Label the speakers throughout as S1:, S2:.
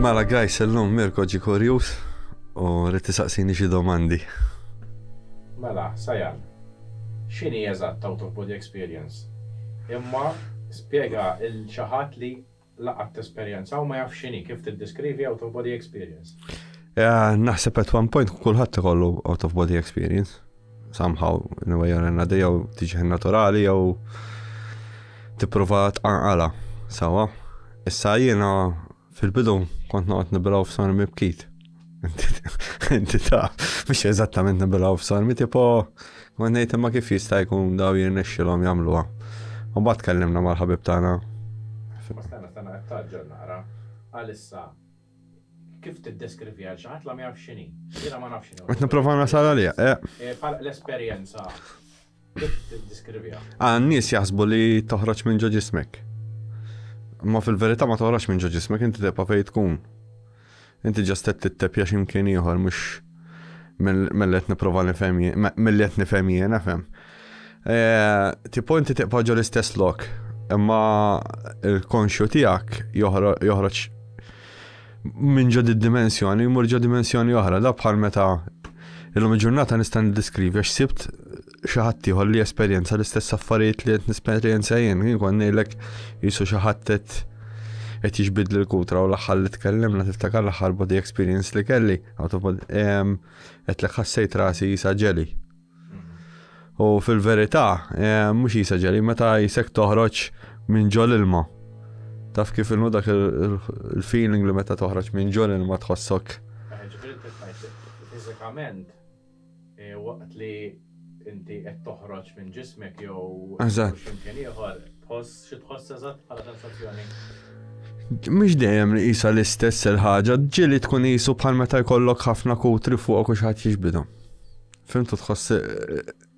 S1: Mela guys, illum Mirko ġi kurjus u rrid tisaqsini xi domandi. Mela, Sajan, x'inhi eżatt out of body experience? Imma spjega il xi ħadd li la qatt esperjenza u ma jafx x'inhi, kif tiddeskrivi out of body experience? Naħseb at one point kulħadd ikollu out of body experience. somehow in a way or another jew tiġi naturali jew tipprova tqanqala sawa. Issa jiena fil-bidu kont noqgħod nibilgħu f'sor mibkit. Inti ta' biex eżattament nibilgħu f'sor mi tipo kont ngħid imma kif jista' jkun daw jirnexxilhom jagħmluha. U mbagħad tkellimna mal-ħabib tagħna. Stana stana qed taġġel naqra. Għalissa Kif tiddeskriviha għal xi ħadd la ma jafx x'inhi? Jiena ma nafx x'inhi. Qed nipprova nasal għaliha. Eh. Eh, bħal l-esperjenza kif tiddeskriviha? Ah, n-nies jaħsbu li toħroġ minn ġo ġismek. Ma fil-verità ma toħroġ minn ġo ġismek inti tibqa' fejn tkun. Inti ġastet tittepja x'imkien ieħor mhux mill qed nipprova nifhem mill qed nifhem jiena fem. Eh, tipo inti tiqpa ġo l-istess lok, imma il-konxju tiegħek joħroġ minn ġo dimensjoni jmur ġo dimensjoni oħra, da bħal meta illum il-ġurnata nista' niddiskrivi għax sibt xi ħadd ieħor li esperjenza l-istess affarijiet li qed nesperjenza jien, jien kon ngħidlek jisu xi ħadd qed jiġbidli l-kutra u l-aħħar li tkellimna tiftakar l-aħħar body experience li kelli. Għetlek ħassejt rasi jisa ġeli. U fil-verità, mux jisa ġeli, meta jisek toħroċ minn ġol ilma. Taf kif il dak il-feeling li meta toħroċ minn ġol ilma tħossok. Ġifiri, fizzikament, waqt li inti qed toħroġ minn ġismek jew x'imkien ieħor, tħoss xi tħoss eżatt bħala sensazzjoni? Mhux dejjem nqisha l-istess il-ħaġa, ġieli tkun qisu bħal meta jkollok ħafna kutri fuqok u xi ħadd jiġbidhom. Fimtu tħoss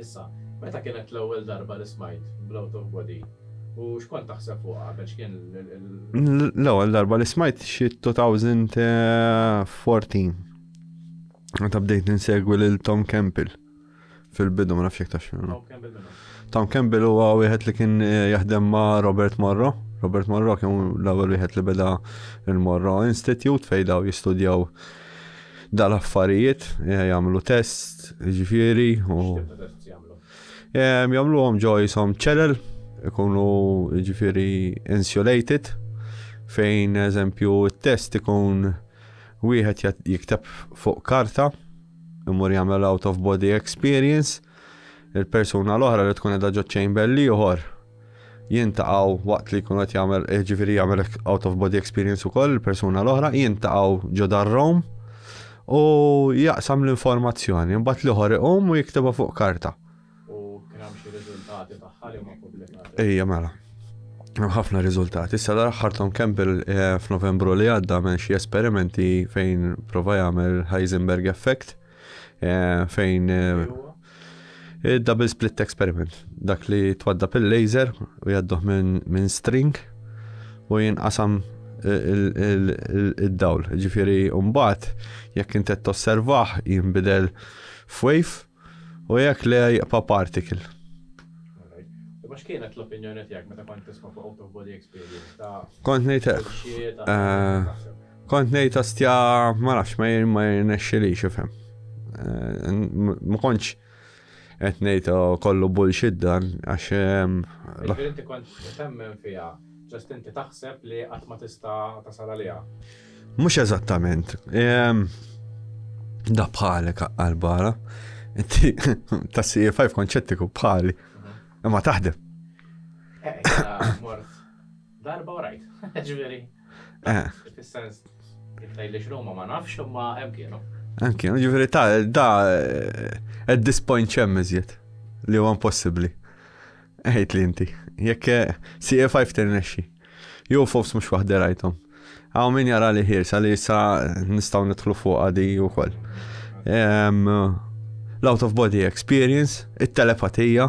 S1: Issa, meta kienet l-ewwel darba li smajt bl-out of body u xkont taħseb fuq qabel x'kien l-ewwel darba li smajt xi 2014. Meta bdejt insegwi lil Tom Campbell fil-bidu ma nafx jekk taf x'inhu. Tom Campbell huwa wieħed li kien eh, jaħdem ma' Robert Morro. Robert Morro kien l-ewwel wieħed li beda il-Morro Institute fejn daw jistudjaw dal-affarijiet, eh, jagħmlu test, ġifieri u eh, jagħmluhom ġo jisom ċelel, ikunu ġifieri insulated fejn eżempju t-test ikun wieħed jikteb fuq karta imur jagħmel out of body experience il-persuna l-oħra li tkun edha ġo chamber liħor jiltaqgħu waqt li jkun qed jagħmel eh, ġifieri jagħmel out of body experience ukoll il-persuna l-oħra, jiltaqgħu ġo darrom u jaqsam l-informazzjoni, mbagħad l-ieħor iqum u jiktibha fuq karta. U kien hemm xi riżultati tagħha li ma pubblikati. Ejja mela. Hemm ħafna riżultati. Issa l-aħħar Tom Campbell eh, f'Novembru li għadda minn xi esperimenti fejn prova jagħmel Heisenberg effect Fejn double split experiment, dak li twadda pil laser u jadduh minn string u jinqasam id-dawl. Ġifiri, umbat, jekk intet tosservaħ, jimbidel f'wave u jekk le jibqa' particle. Imma x'kienet l-opinjoni tiegħek meta kont tisma' fuq out of body experience ta' Kont ngħid hekk. Kont ngħid hostja ma nafx ma ma jirnexxilix ifhem. Eh, ma kontx qed ngħid oh, kollu bullshit dan għax ehm, Inti kont temmen fiha, ġast inti taħseb li qatt ma tista' tasal għaliha. Mhux eżattament. Ehm, da bħalek għal-bara. Inti ta' CA5 konċettiku bħali. Mhm. Imma taħdem. Eh, Darba u rajt, ġifieri. Eh. Fis-sens jekk tgħidlix Roma ma nafx imma hemm kienu. Hemm kienu, ġifieri ta' da eh, at this point ċemm iżjed li huwa impossibbli. Ejt li inti, jekk eh, CA5 tirnexxi. Jew fofs mhux waħda rajthom. Għaw min jara li ħirsa li sa nistgħu nidħlu fuq għadi wkoll. L-out of body experience, it-telepatija,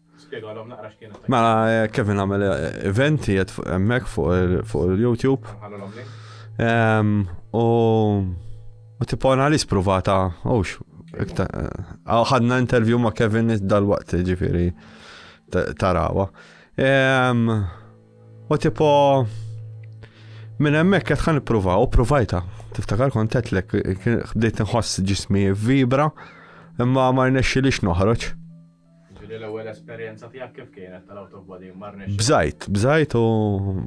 S1: Spjegalhom naqra x'kien it-tajt. Mela Kevin għamel event qiegħed hemmhekk fuq il-YouTube. Ħallulhom link. Ehm, u u tipo analis pruvata, ux, iktar. Aw ħadna interview ma' Kevin dal-waqt ġifieri ta- tarawa. Ehm, u tipo minn hemmhekk qed ħan ippruva u pruvajta. Tiftakar kont għedlek kien- bdejt nħoss ġismi vibra imma ma rnexxilix noħroġ. Ġieli l-ewwel esperjenza tiegħek kif kienet tal-autobody ma rnexxiex? Bżajt, bżajt u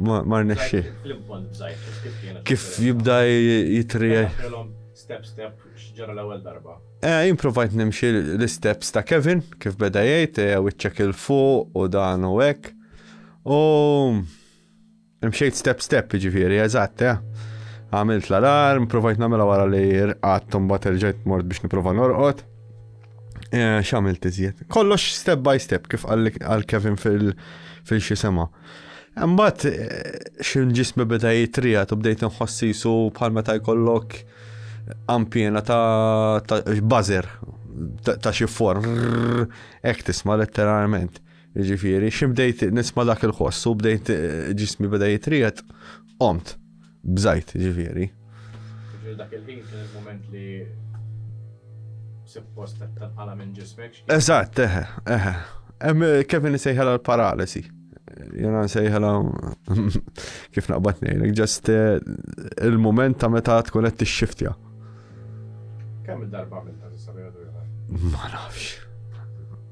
S1: ma rnexxiex. F'lim punt bżajt, kif kienet? Kif jibda jitri. Ħilhom step step x'ġara l-ewwel darba. Jien provajt nimxi l-isteps ta' Kevin kif beda jgħid wiċċek 'il fuq u dan u hekk u. Mxejt step step ġifiri, eżatt, eh. Għamilt l-alarm, provajt namela wara li rqat mbagħad erġajt mort biex niprofa norqod. Eh, x'għamilt iżjed. Kollox step by step kif għal Kevin fil-xi sema. Mbagħad eh, xi ġismi beda jitrijat u bdejt nħossi su bħal meta jkollok ampjena ta' bazer ta' xi form, ek tisma' letteralment. Jiġifieri, xi bdejt nisma' dak il-ħoss u bdejt ġismi beda jitriet, qomt bżajt ġifieri. Dak il-ħin kien il-moment li suppost tal-qala minn ġismek. Eżatt, eħe, eħe. Kevin sejħela l-paralisi. Jena nsejħela kif naqbad nejlek, ġast eh, il-moment ta' meta tkun qed tixxiftja. Kemm il-darba għamilta tista' Ma nafx.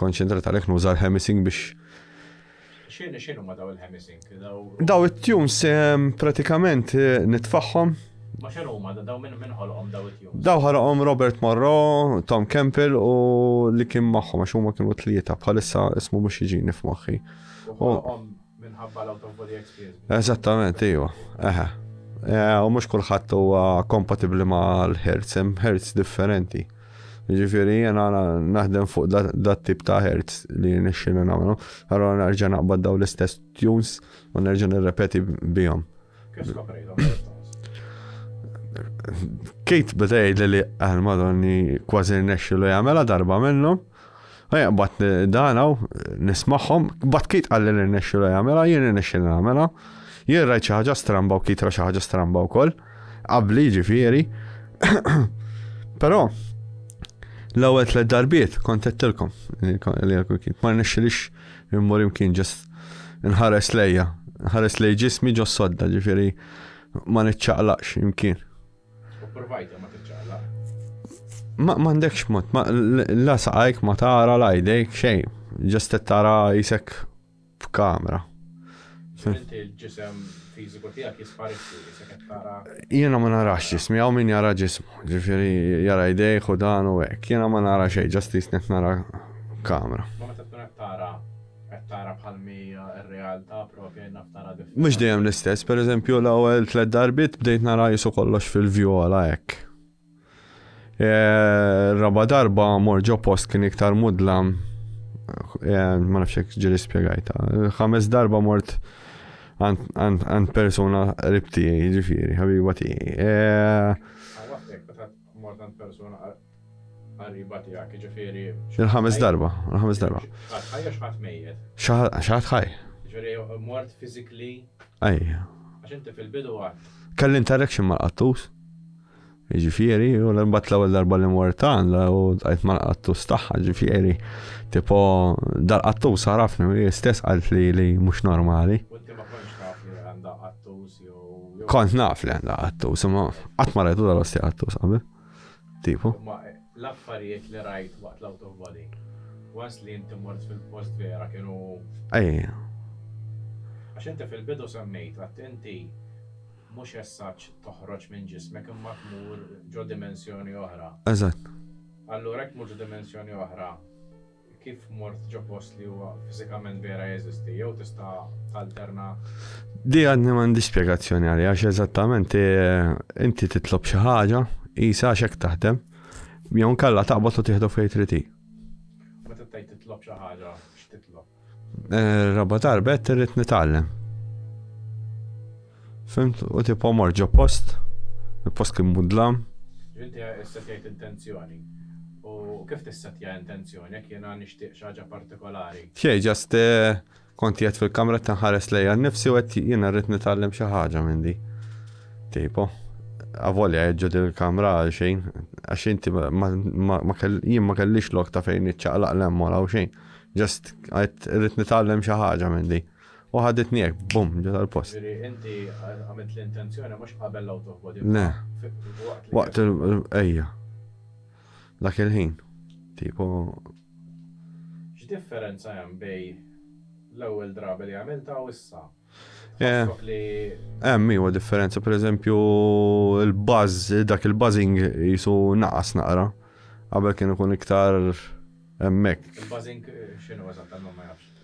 S1: konċentrat għalhekk nuża l-hemisync biex X'inhi x'inhu ma daw il-hemisync? Daw it-tunes ehm, pratikament eh, nitfaħħom. Ma x'inhu ma daw minn minn ħolqhom daw it-tunes? Daw ħarqhom Robert Morrow, Tom Campbell u li kien magħhom għax huma kienu tlieta bħalissa ismu mhux jiġini f'moħħi. U Minħabba l-out of body experience. Eżattament, iva. Eħe. Eh, u mhux kulħadd huwa kompatibbli ma' l-hertz, hemm hertz differenti. Ġifieri jiena naħdem fuq dat tip ta' hertz li nixxina nagħmlu, allora nerġa' naqbad daw l-istess tunes u nerġa' nirrepeti bihom. Kif skoprejhom? Kate bdej li li għal-madonni kważi nesċilu jgħamela darba minnu. Ejja, bat dan hawn, nismagħhom, bat kiet qal li nirnexxilu jagħmilha, jien irnexxilu nagħmilha. Jien rajt xi ħaġa stramba u kiet ra xi ħaġa stramba wkoll, qabli ġifieri. Però l-ewwel tliet darbiet kont qedtilkom li kiet ma rnexxilix immur imkien ġest nħares lejja, nħares lej ġismi ġo sodda ġifieri ma niċċaqlaqx imkien. U provajta ma tiċċaqla. Ma m'għandekx mod, ma la saqajk ma tara la jdejk xejn, ġest tara jisek f'kamra. Inti l-ġisem fiżiku tiegħek jisparixxi jisek qed tara. Jiena ma narax ġismi, hawn min jara ġismu, ġifieri jara jdejk u dan u hekk. Jiena ma nara xejn, ġest jisnek nara kamra. Ma meta tkun qed tara Qed tara bħal mi r-realtà propja jien naf tara differenti. Mhux dejjem l-istess, per eżempju l-ewwel tliet darbiet bdejt nara qisu kollox fil-vjola hekk. Ir-raba' darba mort ġo post kien iktar mudlam ma nafx hekk ġieli spjegajta. Ħames darba mort għand persuna qrib tiegħi, jiġifieri, ħabiba tiegħi. Mort għand persuna qariba tiegħek, jiġifieri. Il-ħames darba, il-ħames darba. Xaħat ħaj jew xaħat mejjet? Xaħat ħaj. Jiġifieri mort physically. Ejja. Għax inti fil-bidu għad. Kelli interaction mal-qattus. Ġifieri, u l-imbat l-ewwel darba li mort għandha u tqajt mal-qattus tagħha, ġifieri, tipo dal-qattus għarafni, stess qalt li li mhux normali. Kont naf li għandha għattus, ma qatt ma rajtu dal-osti għattus qabel. Tipo. L-affarijiet li rajt waqt l-out of body. Once li inti mort fil-post vera kienu. Ejja. Għax inti fil-bidu semmejt għat inti mhux essaċ toħroġ minn ġismek imma tmur ġo dimensjoni oħra. Eżatt. Allura jekk mhux dimensjoni oħra, Kif mort ġo post li huwa fiżikament vera jeżisti jew tista' talterna? Di għadni m'għandi spjegazzjoni għalija għax eżattament eh, inti titlob xi ħaġa, isa għax hekk taħdem, jew nkella taqbad u tieħdu fejn trid Meta tgħid titlob xi ħaġa, x'titlob? Eh, raba darba qed irrid nitgħallem. Fimt, u tipo mor ġo post, il-post kien mudlam. Inti issetjajt intenzjoni. U kif tissetja intenzjoni jekk jiena nixtieq xi ħaġa partikolari? Xejn, just kont qiegħed fil-kamra qed inħares lejja nnifsi u qed jiena rrid nitgħallem xi ħaġa minn di. Tipo, avolja ġo din il-kamra għal xejn, għax inti jien ma kellix lok ta' fejn niċċaqlaq l-emmol għaw xejn. Just għed rrit nitgħallem xi ħaġa minn di. U ħaditni hekk, bum, ġo tal-post. Ġifieri inti għamilt l-intenzjoni mhux qabel l-out of body. Le. Waqt il ejja. Dak il-ħin. Tipo. X'differenza hemm bej l-ewwel drabi li għamilta u issa? Tħossok li. Hemm iva differenza, pereżempju il-buzz, dak il-buzzing jisu naqas naqra. Qabel kien ikun iktar hemmhekk. Il-buzzing x'inhu eżatt ma jafx.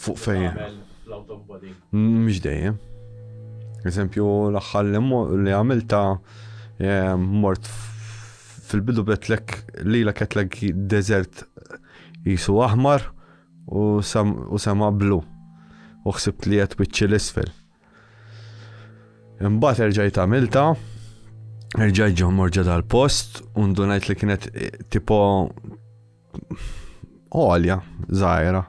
S1: Fuq fejn? Mhux dejjem. Eżempju, l-aħħar li għamilta mort fil-bidu betlek li la ketlek desert jisu aħmar u sema blu. U xsibt li jett bieċi l-isfel. Imbat erġajt għamilta, erġajt ġo morġa dal-post, undunajt li kienet eh, tipo għolja, zaħira.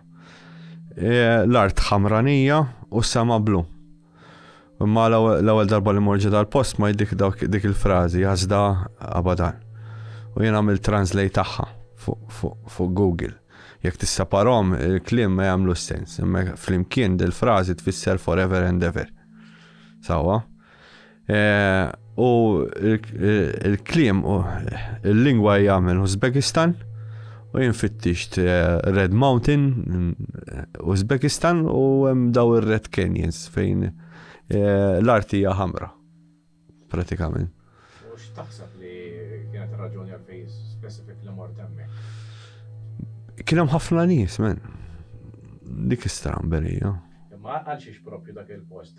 S1: E, l-art ħamranija u s-sema blu. Imma l-ewwel darba li morġi dal-post ma jiddik dik il-frażi għażda abadan. U jien għamil translate tagħha fuq Google. Jekk tisseparhom il-kliem ma jagħmlu sens, imma flimkien dil-frażi tfisser forever and ever. Sawa? Eh, u il-klim u il-lingwa hija minn Uzbekistan u jinfittixt eh, Red Mountain eh, Uzbekistan u hemm daw ir-Red Canyons fejn l-arti hija ħamra pratikament. U x'taħseb li kienet raġuni għal fejn specifik li mort hemmhekk? Kien hemm ħafna nies, men. Dik istramberija. Imma għal xiex propju dak il-post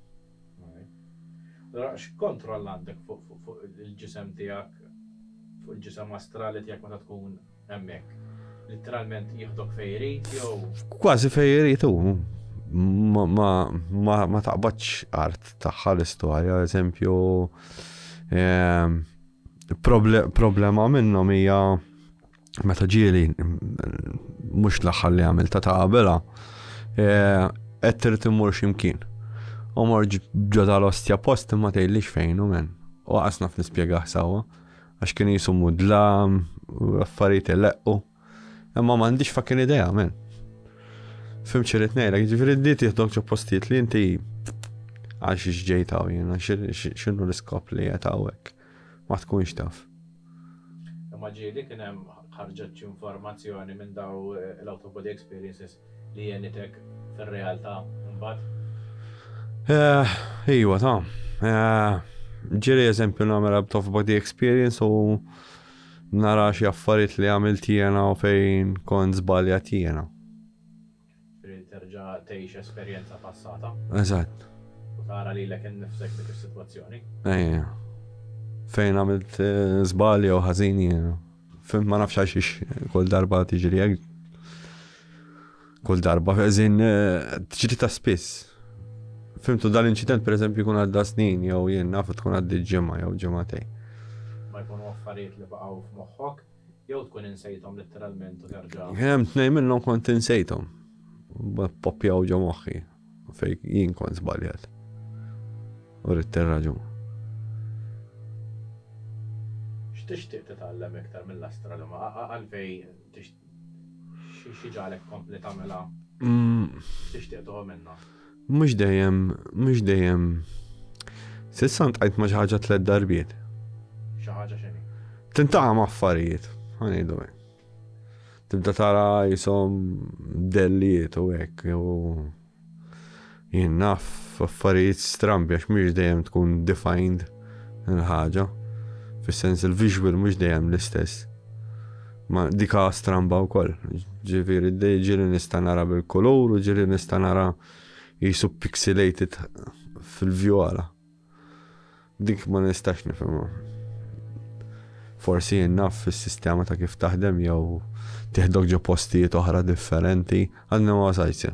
S1: Allura x'kontroll għandek fuq il-ġisem tiegħek, fuq il-ġisem astrali tiegħek meta tkun hemmhekk? Litteralment jieħdok fejn irid jew? Kważi fejn irid hu. Ma taqbadx art tagħha l-istorja, eżempju ehm, problema minnhom hija meta ġieli mhux l-aħħar li għamil ta' tabela eh, qed trid immur x'imkien. U morġ ġo tal-ostja post imma tgħidlix fejn u men. U qasna fl-ispjegaħ sewwa għax kien jisu mudlam u affarijiet leqqu. Imma m'għandix fakin idea men. Fim ċirit ngħidlek, ġifieri di tieħdok ġo postijiet li inti għal xi ġejtaw jiena x'inhu l-iskop li qed hawnhekk. ma tkunx taf. Imma ġieli kien hemm ħarġet xi informazzjoni minn dawn l-out of body experiences li għenitek fir-realtà mbagħad? Ejwa ta. Ġieli eżempju nagħmel out of body experience u nara xi affarijiet li għamilt jiena u fejn kont żbaljat jiena. Trid terġa' tgħix esperjenza passata. Eżatt. U tara lilek innifsek f'dik is-sitwazzjoni. Ejja. Fejn għamilt żball jew ħażin jien. Fimt ma nafx għalxiex kull darba tiġri hekk. Kull darba ħażin tiġri ta' spiss. Fimtu dal-inċident pereżempju jkun għadda snin jew jien naf tkun għaddi ġimgħa jew ġimgħatej. Ma jkunu affarijiet li baqgħu f'moħħok? Jew tkun insejthom litteralment u terġa'. Hemm tnejn minnhom kont insejthom. Poppjaw ġo moħħi fejn jien kont żbaljat. U rrid tirraġun. X'tixtieq titgħallem iktar mill-astronomu? Għalfejn tix xi ġagħlek tkompli tagħmilha? X'tixtieq tuħu minnha? Mhux dejjem, mhux dejjem. S'issa ntqajt ma' xi ħaġa tliet darbiet. Xi ħaġa x'inhi? Tintaqa' ma' affarijiet, ħanejdu hekk. Tibda tara jisom dellijiet u hekk jew jien naf affarijiet strambi għax mhux dejjem tkun defined il-ħaġa. Fis-sens il-visual mhux dejjem l-istess. Ma dika stramba wkoll. Ġifieri ġieli nista' nara bil-kulur u ġieli nista' nara jisu pixelated fil-view għala. Dik ma nistax nifhimha. Forsi naf fis-sistema ta' kif taħdem jew tiħdok ġo postijiet oħra differenti, għadna ma wasajtse.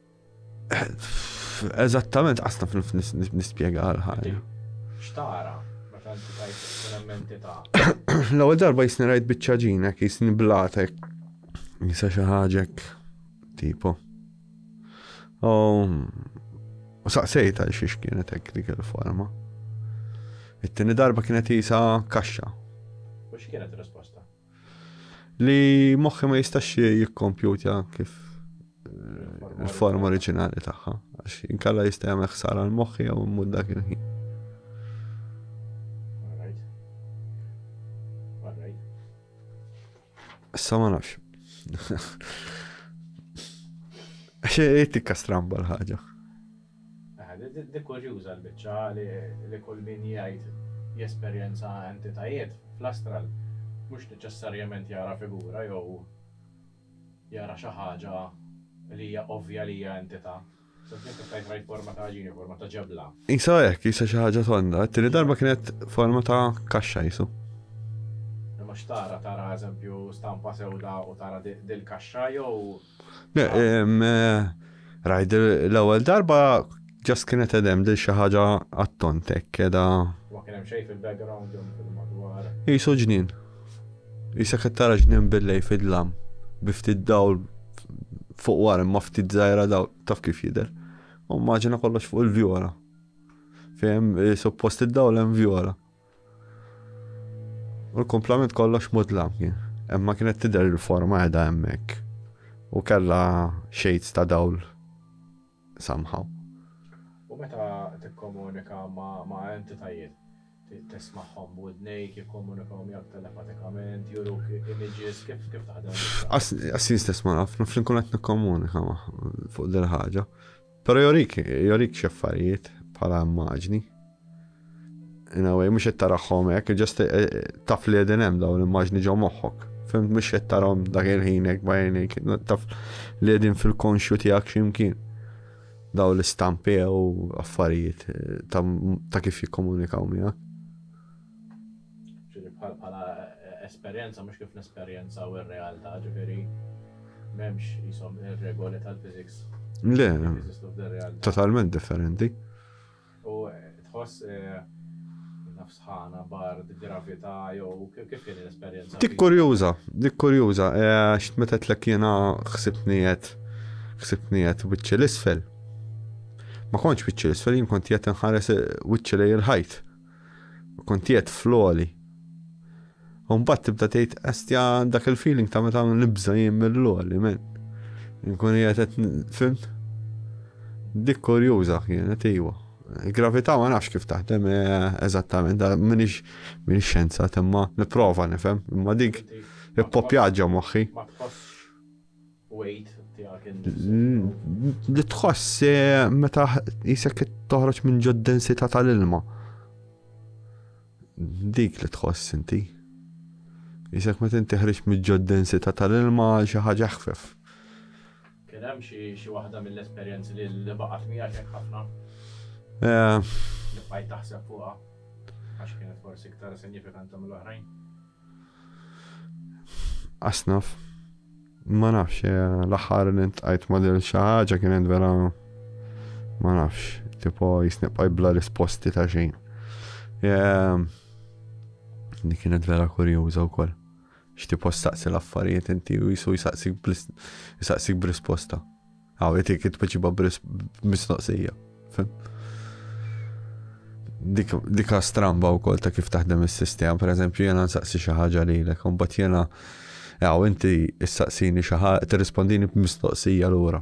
S1: Eżattament, qasna nispjega għal ħajja. Xtara, meta inti tajt ikun entità. L-ewwel darba jisni rajt biċċa ġinek, jisni blatek. Jisa xi ħaġek tipo. U saqsejt għal xiex kienet hekk dik il-forma. It-tieni darba kienet jisa kaxxa. U x'kienet risposta? Li moħħi ma jistax jikkompjuta kif eh, il-forma oriġinali tagħha, għax inkalla jista' jagħmel ħsara l-moħħi jew immut dak il-ħin. Issa ma nafx. Għax tikka stramba l-ħaġa. Di kurjuża l-biċċa li kull min jgħid jesperjenza entitajiet fl-astral mhux neċessarjament jara figura jew jara xi ħaġa li hija ovvja li hija entità. Sempliċement tista' tgħid rajt forma ta' ħaġini, forma ta' ġebla. Qisha hekk, qisha xi ħaġa tonda. It-tieni darba kienet forma ta' kaxxa qisu. Imma x'tara? Tara eżempju stampa sewda u tara dil-kaxxa jew. Rajt l-ewwel darba ġast kienet edem dil xi ħaġa għattontek keda. Ma kien hemm xejn fil-background jew fil-madwar. Qisu ġnien. Qisek qed tara ġnien billej fid-dlam bi ftit dawl fuq wara imma ftit żgħira dawl taf kif jidher. U maġina kollox fuq il-vjola. Fejn suppost id-dawl hemm vjola. U l-kumplament kollox mudlam kien. Imma kienet tidher il-forma qiegħda hemmhekk. U kellha shades ta' dawl somehow. U meta tikkomunika ma' entitajiet, tismagħhom b'widnejk, jikkomunikaw miegħek telepatikament, juruk images, kif taħdem? Għas-snin stess ma naf, naf li nkun qed nikkomunika magħhom fuq dil-ħaġa. Però jorik, jorik xi affarijiet bħala immaġni. In a way, mhux qed tarahom hekk, ġast eh, eh, taf li qegħdin hemm dawn l-immaġni ġo moħħok. Fimt mhux qed tarahom dak il-ħin hekk bajnik, taf li qegħdin fil-konxju tiegħek x'imkien. Daw l-istampi u affarijiet eh, ta' kif jikkomunikaw miegħek. Ġifieri bħal bħala esperjenza mhux kif nesperjenzaw ir-realtà, ġifieri m'hemmx qishom ir-regoli tal-physics. Le, totalment differenti. U tħoss eh, nafsħana, bard, gravità, jew kif kien l-esperjenza? Dik kurjuża, dik kurjuża, eh, x'meta tlek jiena ħsibni qed ħsibni qed wiċċi l-isfel. Ma kontx wiċċi l-isfel, jien kont qed inħares eh, wiċċi lej il-ħajt. U kont qiegħed fl-għoli. U mbagħad tibda tgħid estja dak il-feeling ta' meta nibża jien mill-għoli, men. Nkun qiegħed qed fimt. Dik kurjuża kienet iwa. Gravità ma nafx kif taħdem eh, eżattament, minix minix xenza, temma niprofa nifhem, imma dik ippopjaġġa moħħi. Li tħoss meta jisek qed toħroġ minn ġod densità tal-ilma. Dik li tħoss inti. Jisek meta inti ħriġ minn ġod densità tal-ilma xi ħaġa ħfef. Kien hemm xi waħda mill-esperjenzi li baqgħet miegħek ħafna? Eh. Li bqajt taħseb fuqha għax kienet forsi iktar sinifikanti mill-oħrajn? Asnaf. Ma nafx, eh, l-aħħar li ntqajt ma dil xi ħaġa kienet vera ma nafx, tipo jisnibqa' bla risposti ta' xejn. Eh, li kienet vera kurjuża wkoll. X'tipo staqsi l-affarijiet inti u jisu jisaqsik b'risposta. Għaw, jtik jitpeċiba b'misnoqsija. Dika stramba u kol ta' kif taħdem il-sistema, per eżempju, jena nsaqsi xaħġa li l-ek, un bat jena, għaw, inti issaqsini xaħġa, t-rispondini b'mistoqsija l-ura.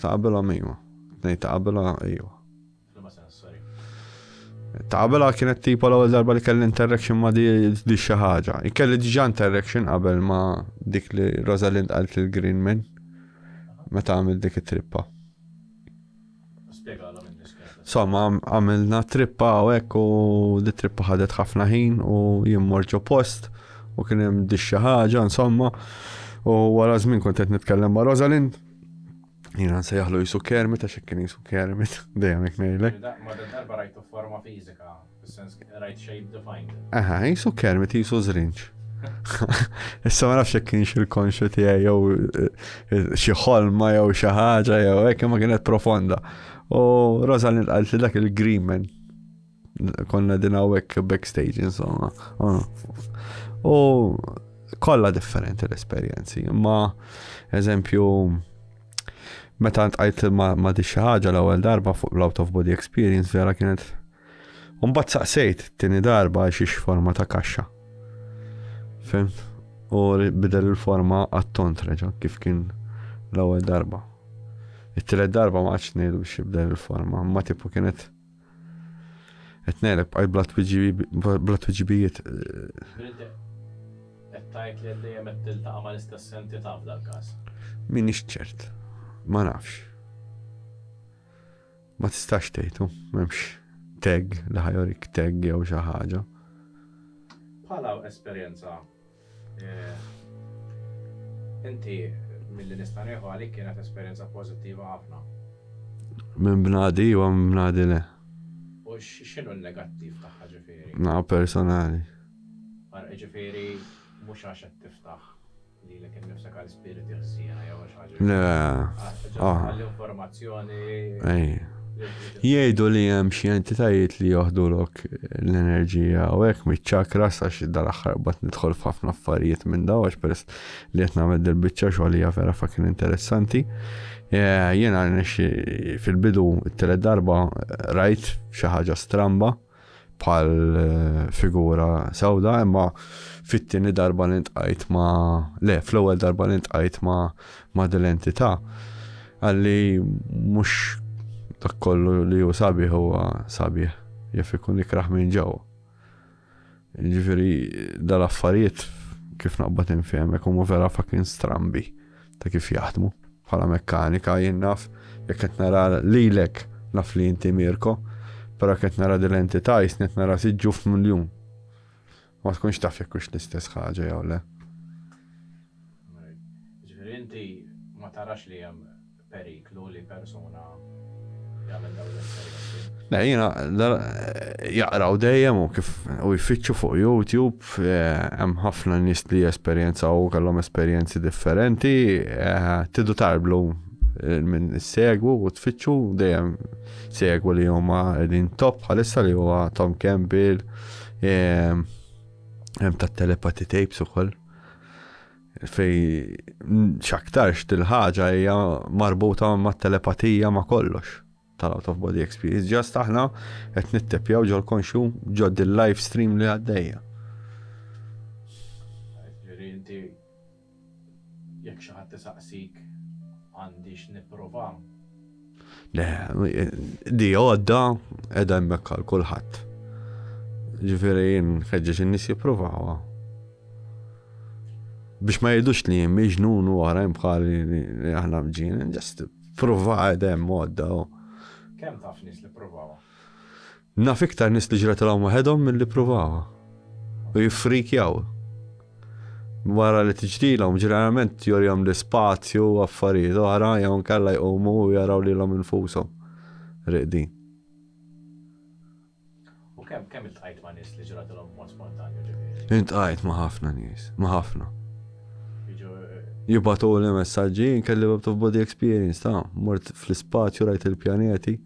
S1: Ta' qabilhom iva. Tnejn ta' qabilha iva. F'liema sens, sorry. Ta' qabilha kienet tipo l-ewwel darba li kelli interaction ma' di di xi ħaġa. Kelli diġà interaction qabel ma' dik li Rosalind qalt lil Greenman meta għamil dik it-trippa. Spjegalhom in-nies kienet. Insomma, għam- għamilna trippa u hekk u di trippa ħadet ħafna ħin u jien mort ġo post u kien hemm di xi ħaġa, insomma. U wara żmien kont qed nitkellem ma' Rosalind Jina nsejjaħlu jisu kermit, għax kien jisu kermit, dejjem jek nejlek. Ma darba rajtu forma fizika, fil-sens rajt shape defined. Aha, jisu kermit, jisu zrinċ. Issa ma nafx kien xil konxu tiegħi jew eh, eh, xi ħolma jew xi ħaġa jew hekk ma kienet profonda. U Rosalind qalt li dak il-green man Konna din hawnhekk backstage insomma. Ah. U kollha differenti l-esperjenzi, imma eżempju meta ntqajt ma, ma di xi ħaġa l-ewwel darba fuq l-out of body experience vera kienet Umbat saqsejt tini darba xiex forma ta' kaxxa. Fim? U bidel il-forma għat-tont reġa kif kien l-ewwel darba. It-tielet darba ma għadx ngħidu biex jibdel il-forma, ma tipu kienet Qed ngħeleb bqaj bla twiġibi- bla twiġibijiet. Bilt qed tgħid li qed dejjem qed tiltaqa' mal-istess entità f'dal każ. M'iniex ċert. Ma nafx. Ma tistax tgħid hu, m'hemmx tag li ħa jurik tag jew xi ħaġa. Bħala esperjenza Inti milli nista' nieħu għalik kienet esperjenza pożittiva ħafna. Minn bnadi iva, minn bnadi le. U x'inhu n-negattiv tagħha ġifieri? Naqa' personali. Ġifieri mhux għax qed tiftaħ lilek innifsek għal Jgħidu li hemm xi entitajiet li joħdulok l-enerġija u hekk miċ-ċakra sa xi dal-aħħar bad nidħol f'ħafna affarijiet minn daw għax peress li qed nagħmel dil-biċċa xogħol hija vera fakin interessanti. Jiena fil-bidu t-telet darba rajt xi ħaġa stramba bħal eh, figura sawda, imma fit-tieni darba li ntqajt ma le, fl-ewwel darba li ntqajt ma ma dil-entità. Għalli mhux dak kollu li hu sabiħ huwa sabiħ, jaf ikun ikraħ minn ġew. Ġifieri dal-affarijiet kif naqbad infehmek huma vera fucking strambi. ta' kif jaħdmu. Bħala mekkanika jien naf jekk qed nara lilek naf li inti Mirko, però qed nara din l-entità jisni qed nara siġġu f'miljun. Ma tkunx taf jekk hux l-istess ħaġa jew le. Ġifieri inti ma tarax li hemm periklu. Le jiena jaqraw dejjem u kif u jfittxu fuq YouTube hemm ħafna nies li jesperjenzaw kellhom esperjenzi differenti, tidu tarblu minn segwu u tfittxu dejjem segwu li huma din top bħalissa li huwa Tom Campbell hemm tat-telepathy tapes ukoll. fejn x'aktarx dil-ħaġa hija marbuta mat-telepatija ma' kollox tal-out of body experience. Ġast aħna qed nittepjaw ġol konxu ġod il-live stream li għaddejja. Ġifieri inti jekk xi ħadd isaqsik għandix nipprova Le, di għodda edha hemmhekk għal kulħadd. Ġifieri jien ħeġġeġ in-nies jippruvawa. Biex ma jgħidux li jien miġnun u oħrajn bħali li aħna mġin, ġest pruva edha hemm għodda. Kemm taf nies li pruvawa? Naf iktar nies li ġratilhom waħedhom milli ppruvawha u jiffrikjaw. Wara li tiġrilhom, ġeneralment jurihom l-ispazju u affarijiet oħra jew inkella jqumu u jaraw lilhom infushom rieqdin. U kemm, kemm iltqajt ma' nies li ġratilhom b'mod spontanju ġifieri? Iltqajt ma' ħafna nies, ma' ħafna. Jiġu. Jibgħatuli messaġġi, jien kelli bit of body experience ta', mort fl-ispazju rajt il-pjaneti.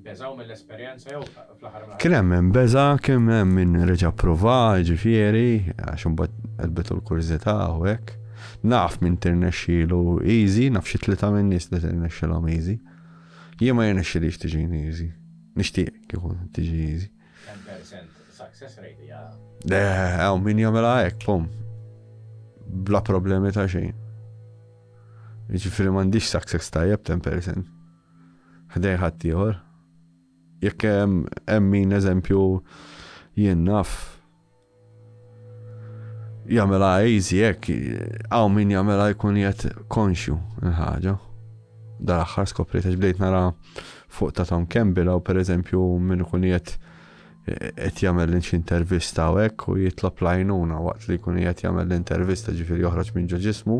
S1: Beżgħu mill-esperjenza jew, fl-aħħar mill-aħħar. Kien hemm min beża', kien hemm min reġa' pprova, jiġifieri, għax imbagħad qelbitu l-kurżità u hekk. Naf min tirnexxielu easy, naf xi tlieta minn nies li tirnexxilhom easy. Jien ma jirnexxilix tiġini easy. Nixtieq kieku tiġi easy. 10% success rate hija. Eh, hawn min jagħmilha hekk, pum. Bla problemi ta' xejn. Jiġifieri m'għandix success tajjeb 10%. ħdejn ħaddieħor. Jekk hemm min eżempju jien naf jagħmilha easy hekk hawn min jagħmilha jkun qed konxju l-ħaġa. Dar aħħar skopriet għax bdejt nara fuq ta' Tom Campbell u pereżempju min ikun qed qed jagħmel lil xi intervista u hekk u jitlob l-għajnuna waqt li jkun qed jagħmel l-intervista ġifieri joħroġ minn ġo ġismu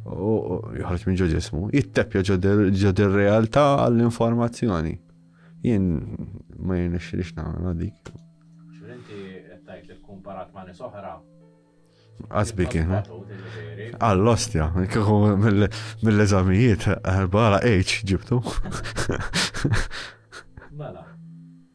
S1: u joħroġ minn ġo ġismu, jitteppja ġo dir-realtà għall-informazzjoni. Jien ma jenix li xnamel dik. X'inti qed tgħid li kkumparat ma' nies oħra? Qasbi kien. Għall-ostja, kieku mill-eżamijiet, bħala H ġibtu. Mela,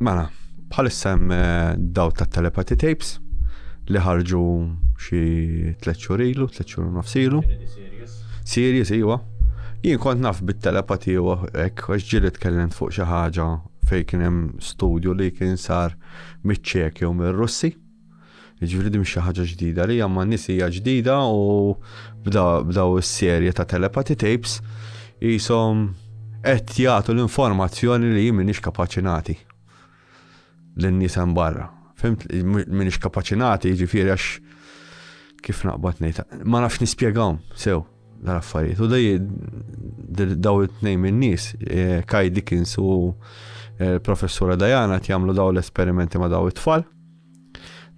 S1: Mela, bħalissa hemm eh, daw ta' telepathy tapes li ħarġu xi tliet xhur ilu, tliet xhur nofs ilu. Serious, iwa. Jien kont naf bit-telepati u hekk għax ġieli tkellem fuq xi ħaġa fejn kien hemm studju li kien sar miċ-Ċeki u mir-Russi. Jiġifieri din mhix xi ħaġa ġdida li ma' nies hija ġdida u bdaw is-serje ta' telepathy tapes qishom qed jagħtu l-informazzjoni li jien m'iniex kapaċi nagħti lin-nies hemm barra. Fimt m'iniex kapaċi nagħti jiġifieri għax kif naqbad ngħid, ma nafx nispjegahom sew dal-affarijiet. U dej daw it-tnejn min-nies, eh, Kai Dickens u eh, professura Diana jagħmlu daw l-esperimenti ma' daw it-tfal.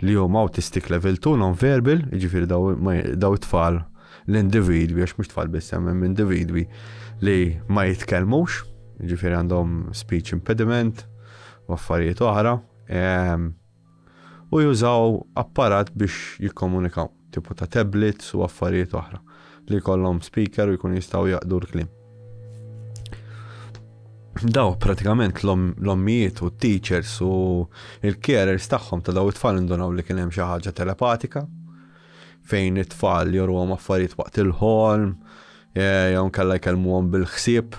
S1: li huma autistic level 2 non-verbal, jiġifieri daw it-tfal l-individwi, għax mhux tfal biss hemm individwi li ma jitkellmux, jiġifieri għandhom speech impediment u affarijiet oħra, ehm, u jużaw apparat biex jikkomunikaw. tipu ta' tablets u affarijiet oħra, li jkollhom speaker u jkunu jistgħu jaqdu l-kliem. Daw pratikament l-ommijiet u t-teachers u l-carers tagħhom ta' daw it-tfal indunaw li kien hemm xi ħaġa telepatika fejn it-tfal jorwhom affarijiet waqt il-ħolm, Jew inkella jkellmuhom bil-ħsieb,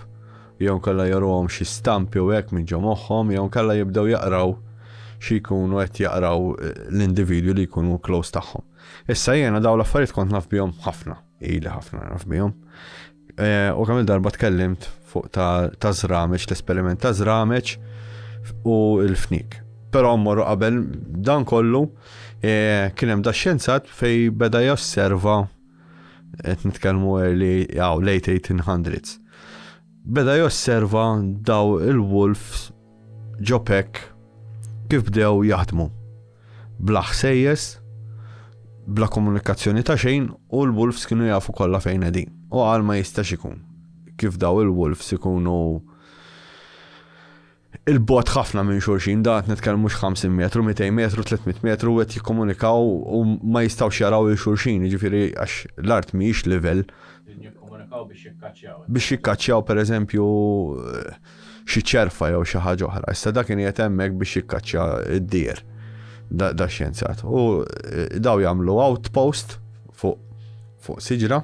S1: jew inkella joruhom xi stampi u hekk minn ġo moħħhom, jew inkella jibdew jaqraw xi jkunu qed jaqraw l-individwi li jkunu close tagħhom. Issa jiena dawn l-affarijiet kont naf bihom ħafna, ili ħafna naf bihom. U kemm il-darba tkellimt fuq ta' żrameġ, l-esperiment ta' żrameġ u l-fnik. Però mmorru qabel dan kollu kien hemm da xjenzat fej beda josserva qed nitkellmu early aw late 1800s, beda josserva daw il-wolves ġopek kif bdew jaħdmu. Bla ħsejjes, bla komunikazzjoni ta' xejn u l-wolves kienu jafu kollha fejn qegħdin. U għal ma jistax ikun kif daw il-wolves ikunu 'il bogħod ħafna minn xulxin, dan qed nitkellmu x'ħamsin metru, mitejn metru, tliet mitt metru qed jikkomunikaw u ma jistgħux jaraw 'il xulxin, jiġifieri għax l-art mhijiex livell. Qegħdin jikkomunikaw biex jikkaċċjaw. Biex jikkaċċjaw pereżempju xi ċerfa jew xi ħaġa oħra. Issa da kien qiegħed hemmhekk biex jikkaċċja d-dier dax-xjenzat. U daw jagħmlu outpost fuq siġra.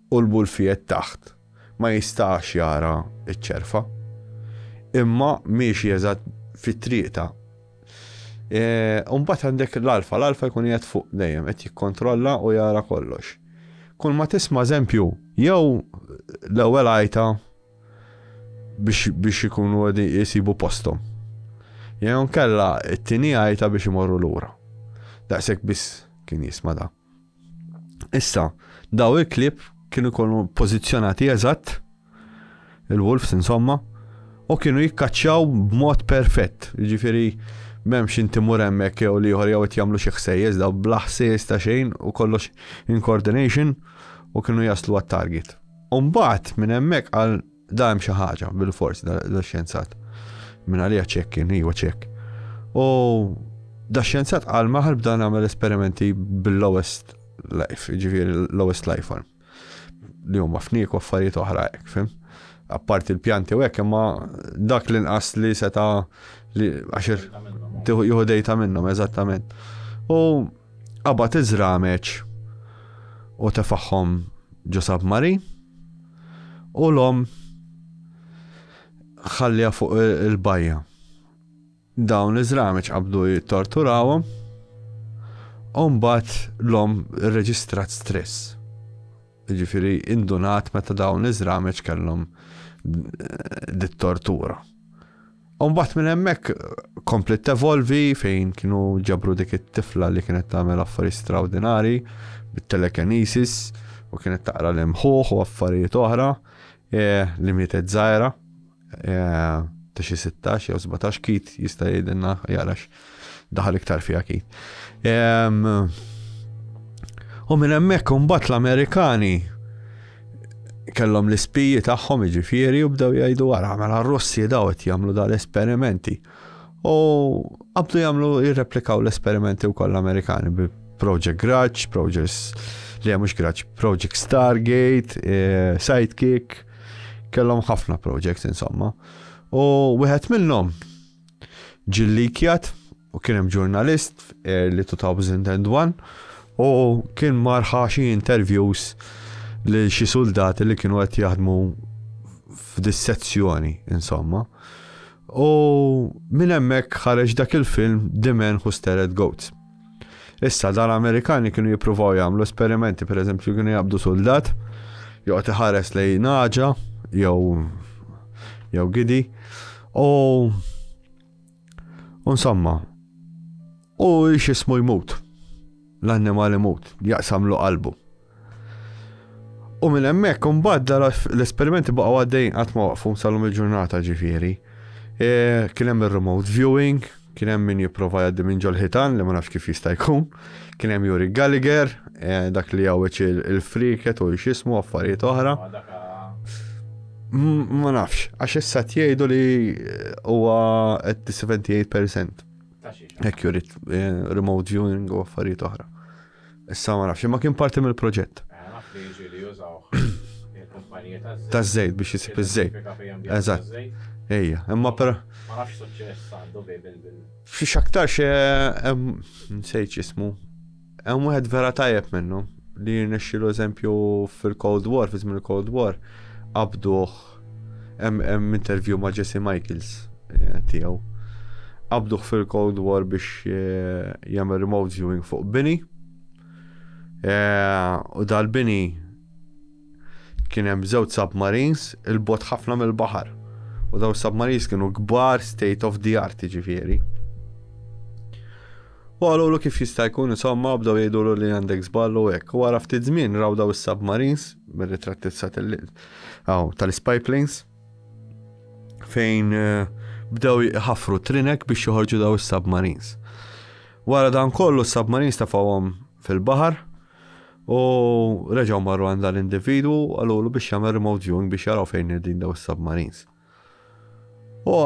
S1: u l-bulfiet taħt ma jistax jara ċ-ċerfa, imma miexi eżatt fit-triqta. U mbagħad għandek l-alfa, l-alfa jkun qiegħed fuq dejjem, qed jikkontrolla u jara kollox. Kull ma tisma' eżempju, jew l-ewwel għajta biex ikunu jisibu postom. Jew kella t-tieni għajta biex imorru lura. Daqshekk biss kien jisma' dak. Issa, daw il-klieb kienu jkunu pożizzjonati eżatt, il-wolves insomma, u kienu jikkaċċjaw b'mod perfett. Ġifieri m'hemmx inti mur hemmhekk jew liħor jew qed jagħmlu xi ħsejjes daw bla ħsejjes ta' xejn u kollox in coordination u kienu jaslu għat-target. Umbagħad minn hemmhekk għal Da hemm xi ħaġa bil-fors da xjenzat. Minn għalija ċekk kien, iwa ċekk. U da xjenzat għal maħal bda nagħmel esperimenti bil-lowest life, ġifieri l-lowest life form. Li huma fnik u affarijiet oħra hekk, fim? Apparti l-pjanti u hekk imma dak li nqas li seta' li għaxir jieħu dejta minnhom eżattament. U qabad iżrameċ u tefaħħom ġo submarin U l-omm ħalliha fuq il-bajja. Dawn iż-żramiċ qabdu jittorturawhom u mbagħad l-omm irreġistrat stress. Jiġifieri indunat meta dawn iż-żramiċ kellhom dit-tortura. Umbat minn hemmhekk komplet tevolvi fejn kienu ġabru dik it-tifla li kienet tagħmel affarijiet straordinari bit-telekinesis u kienet taqra l-imħuħ u affarijiet oħra e, li mietet żgħira e, ta' xi 16 jew 17 kit jista' jgħidilna jarax Daħal iktar fija kif. U minn hemmhekk imbagħad l-Amerikani kellhom l-ispiji tagħhom iġifieri u bdew jgħidu wara mela r-Russi daw qed jagħmlu dal-esperimenti. U qabdu jagħmlu jirreplikaw l-esperimenti wkoll l-Amerikani bi Project Grudge, Project li mhux Grudge, Project Stargate, eh, Sidekick, kellhom ħafna projects insomma. U wieħed minnhom ġie llikjat u kien hemm ġurnalist f'early 2001 u kien marħa xi interviews li xi soldati li kienu qed jaħdmu f'dis-sezzjoni, insomma. U minn hemmhekk ħareġ dak il-film The Man Who Stared at Goats. Issa, dan Amerikani kienu jippruvaw jagħmlu esperimenti, per eżempju, kienu jabdu soldat, joqgħod iħares lej naġa, jew jew gidi, u insomma, u xismu jmut, l-annimal imut, jaqsamlu qalbu. U minn hemmhekk imbagħad l-esperimenti baqgħu għaddejn qatt ma waqfu salhom il-ġurnata ġifieri. E, kien hemm ir-remote viewing, kien hemm min jipprova jgħaddi minn ġol-ħitan li ma nafx kif jista' jkun, kien hemm Juri Gallagher, e, dak li jgħawweġ il-friket u x'ismu affarijiet oħra. Ma nafx, għax issa tgħidu li e, huwa at 78%. Hekk jurid remote viewing u affarijiet oħra. Issa ma nafx, imma kien parti mill-proġett. Naf li jiġi li jużawh il-kumpaniji taż-żejt. Taż-żejt biex isib iż-żejt. Eżatt. Ejja, imma però. Ma nafx x'suċċess għandu bi bil. X'aktarx hemm nsejt x'ismu. Hemm wieħed vera tajjeb minnhom li jirnexxielu eżempju fil-Cold War, fi żmien il-Cold War, qabduh Hemm interview ma' Jesse Michaels eh, tiegħu. Qabduh fil-Cold War biex eh, jagħmel remote viewing fuq bini. Eh, u dal-bini kien hemm żewġ submarines il-bot ħafna mill-baħar. U daw submarines kienu kbar state of the art ġifieri. U qalulu kif jista' jkun insomma u bdew jgħidulu li għandek żball u hekk. U wara ftit żmien raw daw is-submarines mir-ritratti tas-satelliti hawn tal-spy planes fejn eh, bdew jħaffru trinek biex joħorġu daw is-submarines. Wara dan kollu s-submarines tafawhom fil-baħar u reġgħu marru għandha l-individwu għalulu biex jagħmel remote viewing biex jaraw fejn din daw is-submarines. U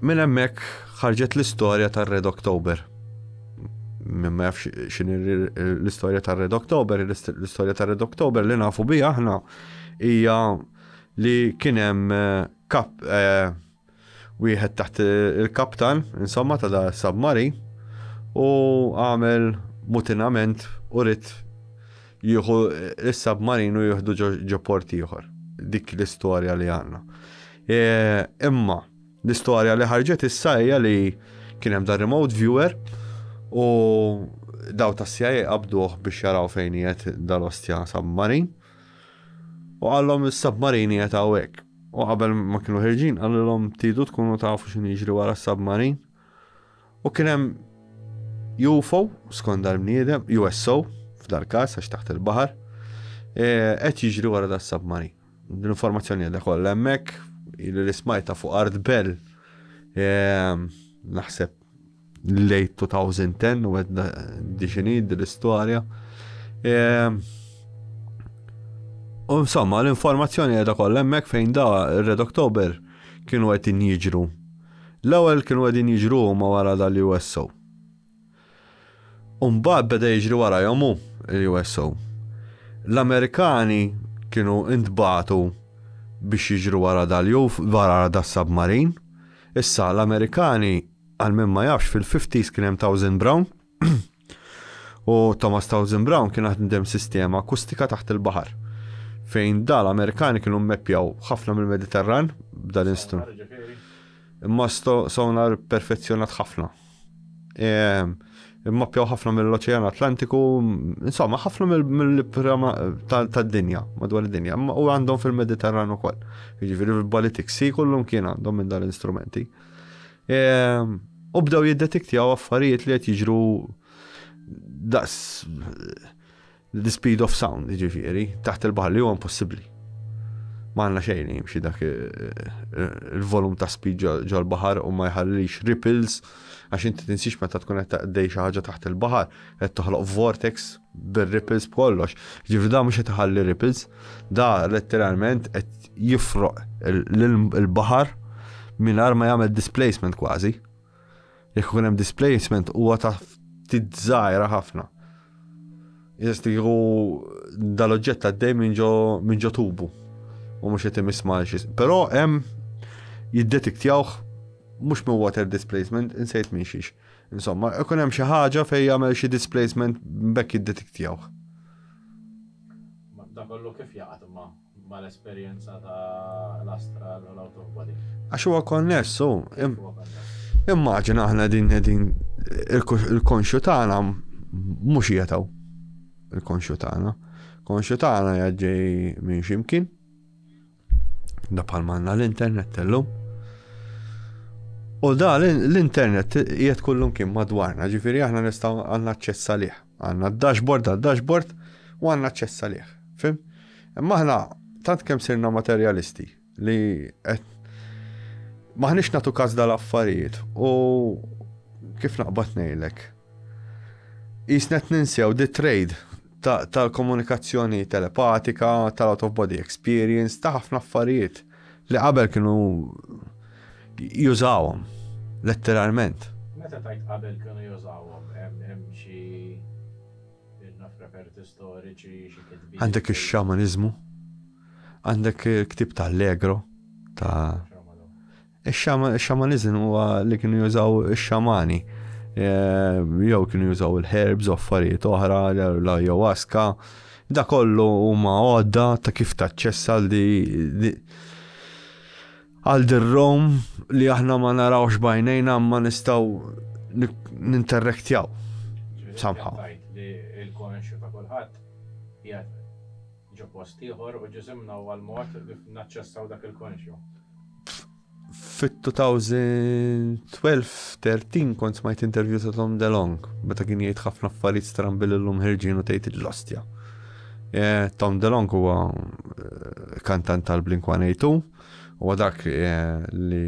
S1: minn hemmhekk ħarġet l-istorja tar-Red October. Minn ma jafx x'in l-istorja tar-Red October, l-istorja tar-Red October li nafu bi aħna hija li kien hemm eh, kap eh, wieħed taħt il-kaptan, insomma ta' da submari, u għamel mutinament u rrit Jieħu is-submarin u jieħdu ġo port ieħor. Dik l-istorja li għandna. E, imma l-istorja li ħarġet issa hija li kien hemm da remote viewer u daw ta' CIA qabduh biex jaraw fejn jiet dal-ostja submarin. U għallom il-submarin jiet għawek. U qabel ma kienu ħirġin, għallom tidu tkunu tafu xin jiġri wara s-submarin. U kien hemm UFO, skont dal-bniedem, USO, f'dal-każ għax taħt il-baħar, e, qed jiġri wara da submarin. L-informazzjoni għadha kollha hemmhekk, li l-ismajta fuq Art Bell, e, naħseb late 2010 u għedna diġini dil-istoria. Ehm, u insomma, l-informazzjoni għedha kollemmek fejn da Red October kienu għed jiġru L-ewwel kienu qegħdin jiġru huma wara dal-USO. U mbagħad beda jiġri warajhom hu, il-USO. L-Amerikani kienu intbagħtu biex jiġru wara dal-UFO, wara das-submarin. Issa, l-Amerikani, għal min ma jafx, fil-50s kien hemm Towsend Brown, U Thomas Townsend Brown kien għaddem sistema akustika taħt il-baħar fejn dal Amerikani kienu mmeppjaw ħafna mill-Mediterran b'dan l-instrument. Imma sonar perfezzjonat ħafna. Ehm, imma pjaw ħafna mill-Oċean Atlantiku, insomma, ħafna mill-prama tad-dinja, madwar id-dinja, u għandhom fil-Mediterran ukoll. Jiġifieri fil-Baltic Sea kollum kien għandhom minn dal-instrumenti. U bdew jiddetiktjaw affarijiet li qed jiġru daqs the speed of sound, ġifiri, taħt il-baħar li huwa impossibbli. Ma għandna xejn jimxi dak il-volum ta' speed ġol-baħar u ma jħallix ripples għax inti tinsix meta tkun qed taqdej xi ħaġa taħt il-baħar qed toħloq vortex bir-ripples b'kollox. Ġifieri da mhux qed iħalli ripples, da letteralment qed jifroq il-baħar mingħajr ma jagħmel displacement kważi. Jekk ikun hemm displacement huwa ta' ftit żgħira ħafna. Jistiħu dal-oġġett għaddej minn ġo tubu u mhux qed imiss malxis. Però hemm jiddetiktjawh mhux minn water displacement, insejt minn xiex. Insomma, ikun hemm xi ħaġa fejn jagħmel xi displacement bekk jiddetiktjawh. Da kollu kif jaqgħad imma mal-esperjenza ta' l-astral u l-autobody. Għax huwa konnessu. Immaġina aħna din din il-konxu tagħna mhux jetaw il-konxu tagħna. Konxu tagħna jaġġej minn ximkien. Da bħal manna l-internet tellum. U da l-internet jiet kullum kien madwarna, ġifiri aħna nistaw għanna ċessa liħ. Għanna dashboard għal dashboard u għanna ċessa liħ. Fim? Imma aħna tant kem sirna materjalisti li maħnix natu kaz dal-affarijiet u kif naqbat nejlek. Jisnet ninsew di trade tal-komunikazzjoni telepatika, tal-out of body experience, ta' ħafna affarijiet li qabel kienu jużawhom letteralment. Meta tajt qabel kienu jużawhom, hemm xi naf reperti storiċi, xi kitbi. Għandek ix-xamaniżmu, għandek il-ktieb ta' Allegro ta' Ix-xamaniżm huwa li kienu jużaw ix-xamani jew kienu jużaw il-herbs u affarijiet oħra l-ayahuasca. Da kollu huma għodda ta' kif taċċessa li għal dir-Rom li aħna ma narawx bajnejna ma nistgħu ninterrektjaw. Samħa. Il-konxju ta' kulħadd Ġo post ieħor u ġisimna huwa l-mod kif naċċessaw dak il-konxju. Fit-2012-13 kont smajt intervju ta' Tom DeLong meta kien jgħid ħafna affarijiet strambi lil lum ħirġin u tgħid il-lostja. Eh, Tom DeLong huwa eh, kantant tal-Blink-182 huwa dak eh, li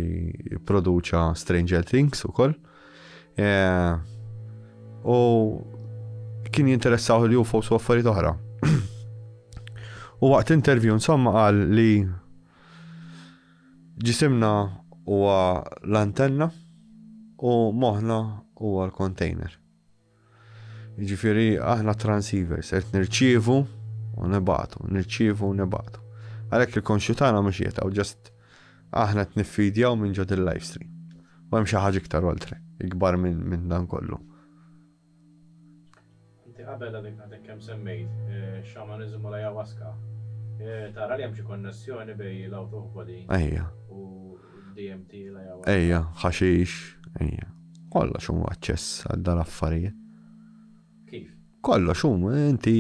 S1: produċa Stranger Things ukoll. koll Eh, u kien jinteressaw li UFOs u affarijiet oħra. u waqt intervju insomma qal li ġisimna huwa l-antenna u moħna huwa l-container. Jiġifieri aħna transceivers, qed nirċievu u nibagħtu, nirċievu u nibagħtu. Għalhekk il-konxju tagħna mhux qiegħed hawn, ġast aħna qed niffidjaw minn ġod il-live stream. U hemm xi ħaġa iktar oltre, ikbar minn dan kollu. Inti qabel għadek għadek kemm semmejt eh, xamaniżmu la jawaska. Eh, tara li hemm xi konnessjoni bej l-out of body u DMT la jawaska. Ejja, ħaxix, ejja. Kollox hu aċċess għal dan affarijiet. Kif? Kollox hu, inti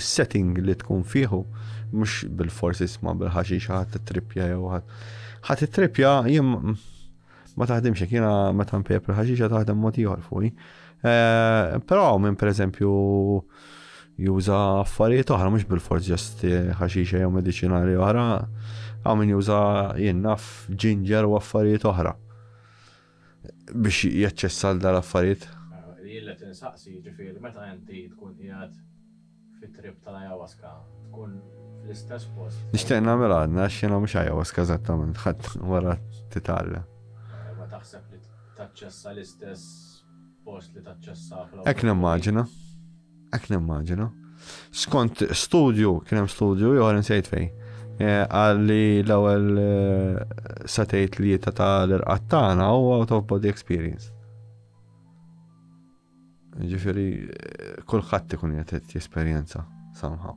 S1: s-setting li tkun fieħu, mhux bil-fors isma' bil-ħaxix ħadd titripja jew ħadd. Ħadd titripja jien ma taħdimx hekk jiena meta npejjeb il-ħaxixa taħdem mod ieħor fuqi. Eh, però minn pereżempju juża affarijiet oħra mhux bil-fors ġast ħaxixa jew mediċinali oħra, hawn min juża jien naf ġinġer u affarijiet oħra. biex jaċċessa għal dawn l-affarijiet. Jien qed insaqsi jiġifieri meta inti tkun qiegħed fit-trip tal-ayahuasca tkun fl-istess post. Nixtieq nagħmilha għadna għax jiena mhux ayahuasca eżattament ħadd wara titgħallem. Ma taħseb li taċċessa l-istess post li taċċessa fl-awtomobil? Hekk nimmaġina. Ek nimmaġina. Skont studju, kien hemm studju ieħor insejt fej. Eh, għalli l-ewwel eh, satejt li jieta ta' l-irqat tagħna u out of body experience. Ġifieri eh, kulħadd ikun qed jesperjenza somehow.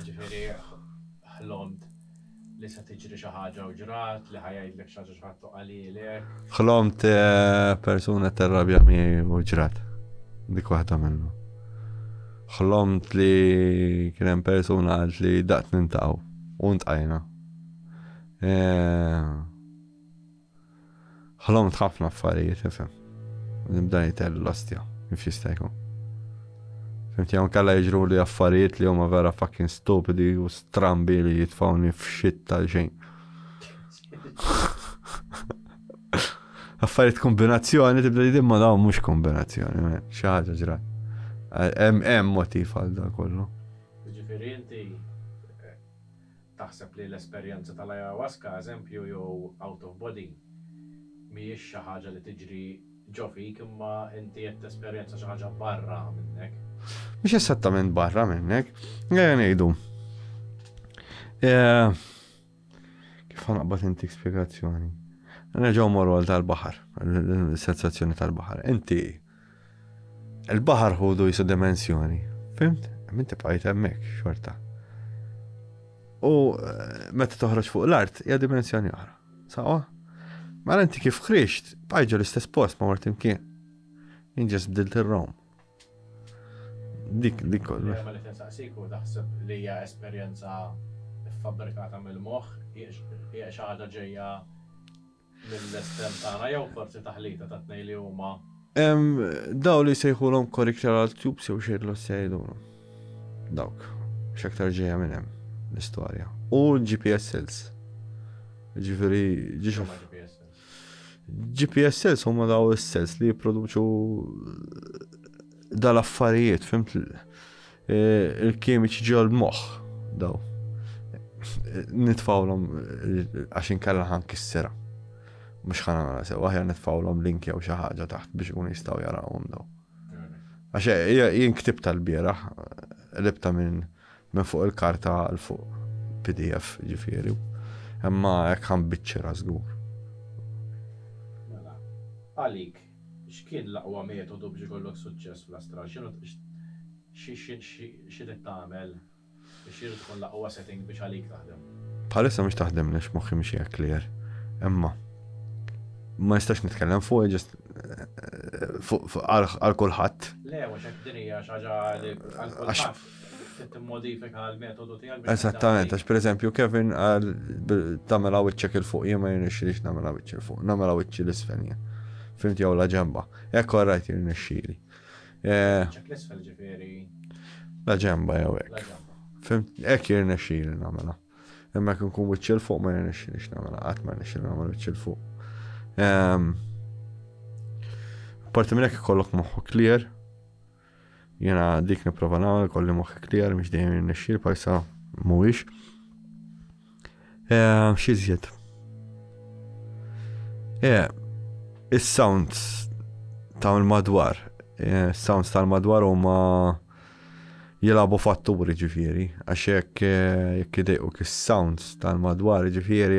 S1: Jiġifieri ħlomt li se tiġri xi ħaġa u ġrat, li ħa jgħidlek xi ħaġa xi ħadd u qalilek. Ħlomt eh, persuna terrabja mi u ġrat. Dik waħda minnu. Ħlomt li kien hemm persuna għalt li daqt nintaqgħu u ntqajna. Eh, Ħlomt ħafna affarijiet, ifhem. Nibda nitell l-ostja, kif jista' jkun. Fimt jew kalla jiġru li affarijiet li huma vera fucking stupidi u strambi li jitfawni f'xit tal-xejn. Affarijiet kombinazzjoni tibda li ma dawn mhux kombinazzjoni, xi ħaġa ġra. Hemm hemm motiv għal dan kollu. Ġifieri inti Taħseb li l-esperjenza tal-ayahuasca, eżempju, jew out of body, mhijiex xi ħaġa li tiġri ġo fik imma inti qed tesperjenza xi ħaġa barra minnek? Mhix esattament barra minnek. Ejja ngħidu. Eh, kif ħanaqbad intik spjegazzjoni? Nerġgħu morru għal tal-baħar, l-sensazzjoni tal-baħar. Inti Il-baħar ħudu jisu dimensjoni, fimt? Min tibqajt hemmhekk xorta. U eh, meta toħroġ fuq l-art hija dimensjoni oħra. Sawa? Mara mela inti kif krixt, bajġu l-istess post ma mort imkien. Inġes bdilt ir-rom. Dik, dik kollu. Ma li tinsaqsiku taħseb li hija esperjenza fabbrikata mill-moħħ, hija xi ħaġa ġejja mill-estrem tagħna jew forsi taħlita tat-tnejn li huma. Hemm dawn li jsejħulhom correctoral tubes jew xejn l-ossja jgħidulhom. Dawk, x'aktar ġejja minn hemm l-istorja. U GPS cells. Ġifieri ġiex GPS cells huma daw is-cells li jipproduċu dal-affarijiet, fimt Il-kimiċi ġol-moħħ daw. Nitfawlhom għax inkella ħan kissera. Mhux ħana nara sew, aħjar nitfawlhom link jew xi ħaġa taħt biex ikun jistgħu jarawhom daw. Għax eh, jien ktib tal-bieraħ libta minn minn fuq il-karta għal fuq PDF ġifieri. Imma hekk ħan biċċera żgur. Mela, għalik X'kien l-aqwa metodu biex ikollok suċċess fl-astral? X'inhu x'irid tagħmel? X'jrid tkun l-aqwa setting biex għalik taħdem? Bħalissa mhix taħdemli għax moħħi mhix hija clear. Imma ma nistax nitkellem fuq ġest għal kulħadd. Le, mhux hekk din hija xi ħaġa għal kulħadd. Eżattament, għax pereżempju Kevin qal tagħmilha wiċċek 'il fuq, jien ma jirnexxilix nagħmilha wiċċi 'l fuq, nagħmilha wiċċi 'l isfel jien. Fimt jew la ġemba. Hekk all right jirnexxili. Wiċċek l isfel ġifieri. La ġemba jew hekk. Fimt hekk jirnexxili nagħmilha. Imma jekk nkun wiċċi 'l fuq ma jirnexxilix nagħmilha, qatt ma jirnexxili nagħmel wiċċi 'l fuq. Parti minn hekk ikollok moħħu clear, Jiena dik nipprova nagħmel kolli moħħi clear mhux dejjem jirnexxi l-pajsa mhuwiex. Eh, xi żjed? Eh, is-sounds ta' l-madwar, eh, sounds tal-madwar huma jilabu fatturi ġifieri, għax jekk jekk idejqu kis-sounds tal-madwar ġifieri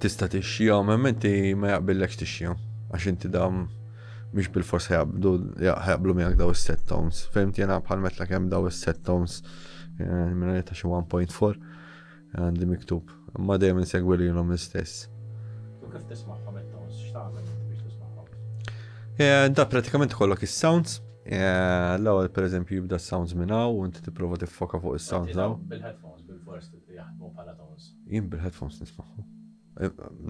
S1: Tista' tixxija, ma inti ma jaqbillekx tixxija. Għax inti dam mhix bil-fors ħajabdu, ħajablu miegħek daw is-set tones. Fehmt jena bħal metla kemm daw is-set tones eh, minna ta' xi 1.4 għandi miktub. Ma dejjem insegwi li jilhom l-istess. U kif tismagħhom it-tones x'tagħmel biex tismagħhom? Eh, da pratikament kollok is-sounds. Eh, l-ewwel pereżempju jibda s-sounds minn hawn u inti tipprova tiffoka fuq is-sounds daw. Bil-headphones bil-fors jaħdmu bħala tones. Jien bil-headphones nismaħħu.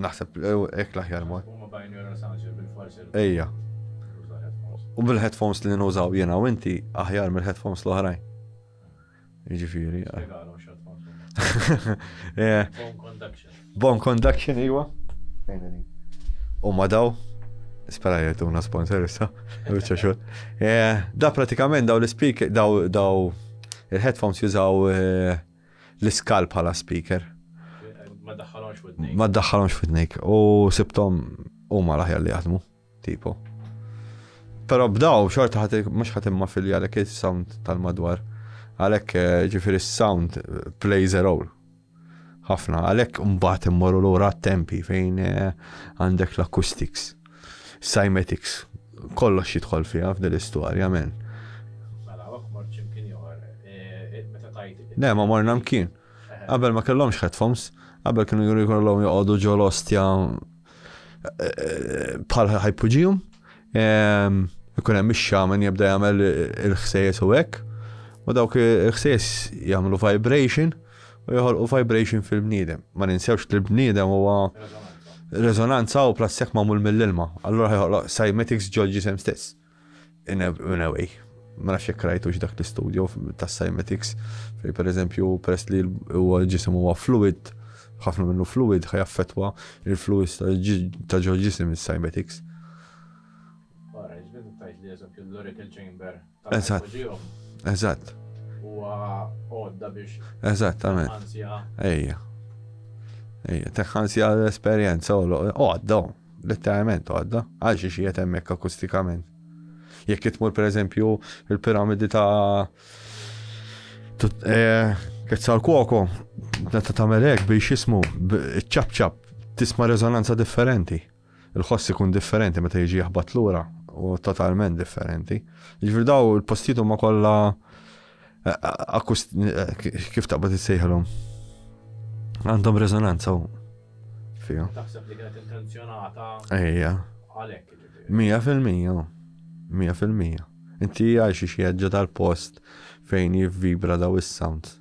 S1: Naħseb hekk l-aħjar mod. Ejja. U bil-headphones li nużaw jiena u inti aħjar mill-headphones l-oħrajn. Jiġifieri. Eh. Bon conduction. Bon conduction, iwa. U ma daw, spera jgħetuna sponsor issa, bieċa xut. Eh, da pratikament daw l-speak, daw, daw, il-headphones jużaw eh, l-iskal bħala speaker. Ma daħħalhomx f'widnejk. Ma daħħalhomx f'widnejk u sibthom huma l-aħjar li jaħdmu, tipo. Però bdaw xorta ħadd mhux ħadd imma filja għalhekk is-sound tal-madwar. Għalhekk eh, ġifieri s-sound eh, plays a role. Ħafna, għalhekk mbagħad immorru lura tempi fejn eh, għandek l-acoustics. Cymetics. Kollox jidħol fiha f'din l-istorja, men. Mela, hawnhekk mort xi mkien ieħor. Eh, meta tajt. Le, ma morna mkien. Qabel ma kellhomx headphones, qabel kienu juri kollhom joqogħdu ġol ostja eh, bħal ħajpuġijum. Ehm, ikun hemm ix-xaman jibda jagħmel il-ħsejjes u hekk. U dawk il-ħsejjes jagħmlu vibration. u joħolqu vibration fil-bniedem. Ma ninsewx li l-bniedem huwa resonanza u plastik magħmul mill-ilma. Allura ħajħolq cymatics ġol ġisem stess. In a way. Ma nafx jekk rajtux dak l-istudju tas cymatics fej per eżempju peress li huwa ġisem huwa fluid, ħafna minnu fluid ħajaffetwa il-fluids ta' ġol ġisem is-cymatics. Barra, ġbet tajt li eżempju l-oracle chamber Eżatt. Eżatt. Huwa għodda biex. Eżattament. Ejja. Ejja, teħħansja l-esperjenza u għodda, letteralment għodda, għal xi xiet hemmhekk akustikament. Jekk itmur pereżempju il-piramidi ta' eh, Kezzal Kwoko, meta tagħmel hekk biex jismu ċap-ċap tisma' rezonanza differenti. Il-ħoss ikun differenti meta jiġi jaħbat lura u totalment differenti. Jiġifieri daw il-postijiet huma kollha kif taqbad issejħilhom. Għandhom rezonanza u fija. Taħseb li kienet intenzjonata. Ejja. Għalhekk. Mija fil-mija. Mija fil-mija. Inti għajxi xi tal-post fejn jivvibra daw is-sounds.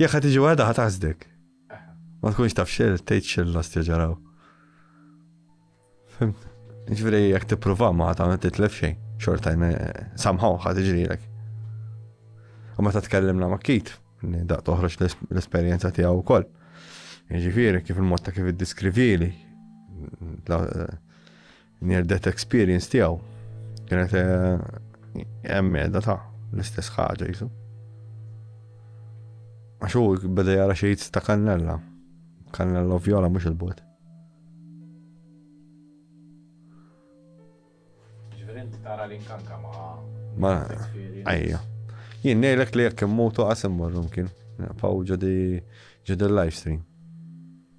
S1: Jekk ħa tiġi waħda ħa taħsdek. Ma tkunx taf xil, tgħid xil l-ostja ġaraw. Fimt? Ġifieri jekk tipprova ma tagħmel titlef xejn, xorta samħaw ħa tiġrilek. U meta tkellimna ma' kit, daq toħroġ l-esperjenza tiegħu wkoll. Ġifieri kif il-mod ta' kif iddiskrivili Near death experience tiegħu kienet hemm eh, da ta' l-istess ħaġa jisu. Għax hu beda jara xi ta' kannella. Kannella u vjola mhux il-bot. tara li nkanka ma' ma' għajja. Jien nejlek li jekk immutu għasim morrum kien. Paw ġodi ġodi live stream.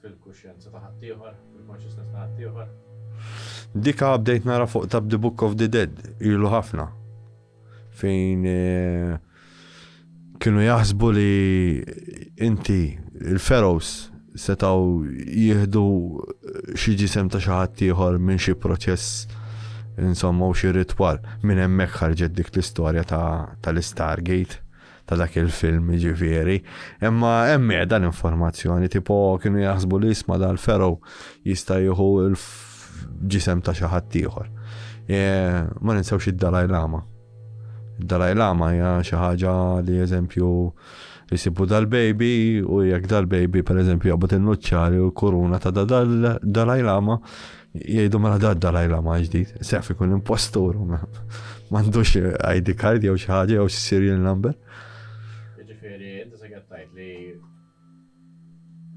S1: Fil-kuxjenza ta' ħaddieħor, fil-consciousness ta' ħaddieħor. Dika bdejt nara fuq tab The Book of the Dead, ilu ħafna. Fejn eh, kienu jaħsbu li inti, il-ferows, setaw jihdu xi ġisem ta' xi ħadd ieħor minn xi proċess insomma u xi ritwal. Minn hemmhekk ħarġet dik l-istorja tal-Stargate. ta' dak il-film ġifieri. Imma hemm dan informazzjoni tipo kienu jaħsbu li jisma dal fero jista' jieħu l-ġisem ta' xi ħadd ieħor. E, ma ninsewx id-Dalai Lama. Id-Dalai Lama hija xi ħaġa li eżempju jisibu dal-baby u jekk dal-baby per eżempju jaqbad il-nuċċari u l-kuruna ta' dal-Dalai Lama Jgħidu mela da dalaj lama ġdid, sef ikun impostur, m'għandux ID card jew xi ħaġa jew serial number. Ġifieri, inti se tajt li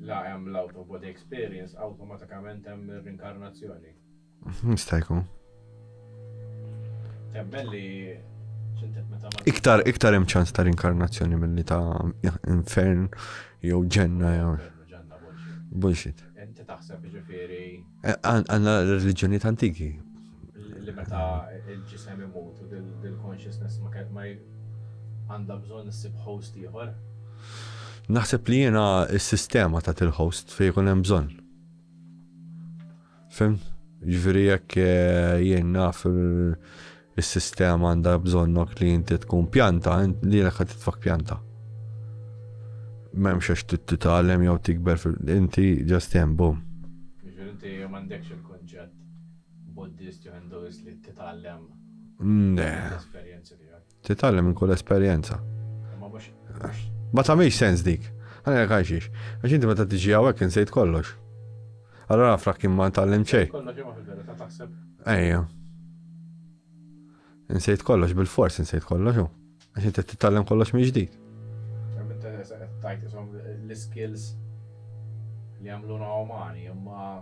S1: la hemm l-out of body experience awtomatikament hemm ir-rinkarnazzjoni. Nista' jkun. Temmen li Iktar iktar hemm ċans ta' rinkarnazzjoni milli ta' infern jew ġenna jew. Bullshit. Inti taħseb jiġifieri. Għandna reliġjonijiet antiki. Li meta l-ġisem imut u dil-consciousness ma għandha bżonn issib host ieħor? Naħseb li jiena s-sistema tat il-host fejn ikun hemm bżonn. Fimt? Ġifieri jekk jien naf is-sistema għandha bżonnok li inti tkun pjanta, lilek ħad titfak pjanta. M'hemmx għax titgħallem jew tikber fil-inti ġast hemm bum. Ġifieri inti m'għandekx il-kunċett Buddist jew Hinduist li titgħallem l-esperjenzi tiegħek. Titgħallem minn kull esperjenza. Ma tagħmilx sens dik. Għana jek għajxix. Għax inti meta tiġi għawek insejt kollox. Allora għafra kim ma ntallem ċej. Ejja. Insejt kollox bil-fors, insejt kollox. Għax inti titgħallem kollox minn ġdid. L-skills li għamluna umani, imma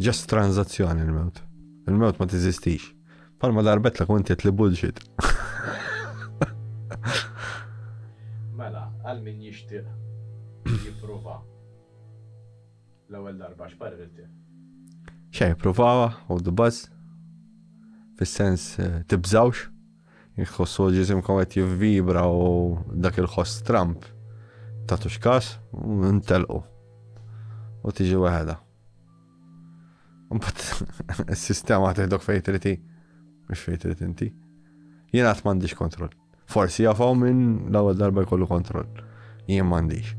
S1: Just transazzjoni l-mewt. Il-mewt ma tiżistix. Palma darbetlek u inti li bullshit. Mela, għal min jixtieq jipprova l-ewwel darba x'parir inti? Xejn, provawa, hold the buzz. Fis-sens eh, tibżawx. Jekk tħossu ġisimkom qed jivvibra u dak il-ħoss stramp ta' tuxkas, ntelqu. U tiġi weħeda. Mbatt, is-sistema teħdok fejn triti, mhux fejn trid inti. Jien qatt m'għandix kontroll. Forsi jafaw minn l-ewwel darba jkollu kontroll. Jien m'għandix.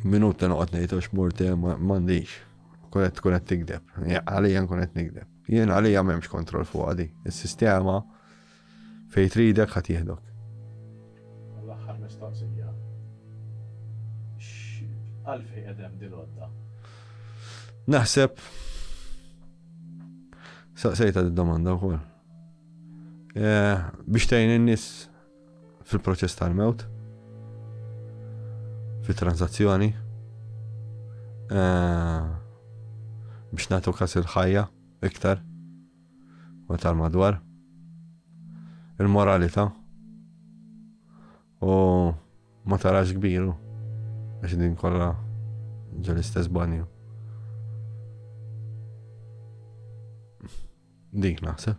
S1: Minut li noqgħod ngħid għax murti m'għandix. Kunet tkun qed tigdeb. Għalija nkun qed nigdeb. Jien għalija m'hemmx kontroll fuqha di. Is-sistema fejn tridek ħa tieħdok. U l-aħħar mistoqsija. X'għalfejn qed hemm din l-għodda? Naħseb saqsejta d-domanda wkoll. Eh, biex tgħin in-nies fil-proċess tal-mewt, fit-transazzjoni, eh, biex nagħtu kas il-ħajja iktar u tal-madwar, il-moralità u ma tarax kbiru biex din kollha ġol-istess banju. Dik naħseb.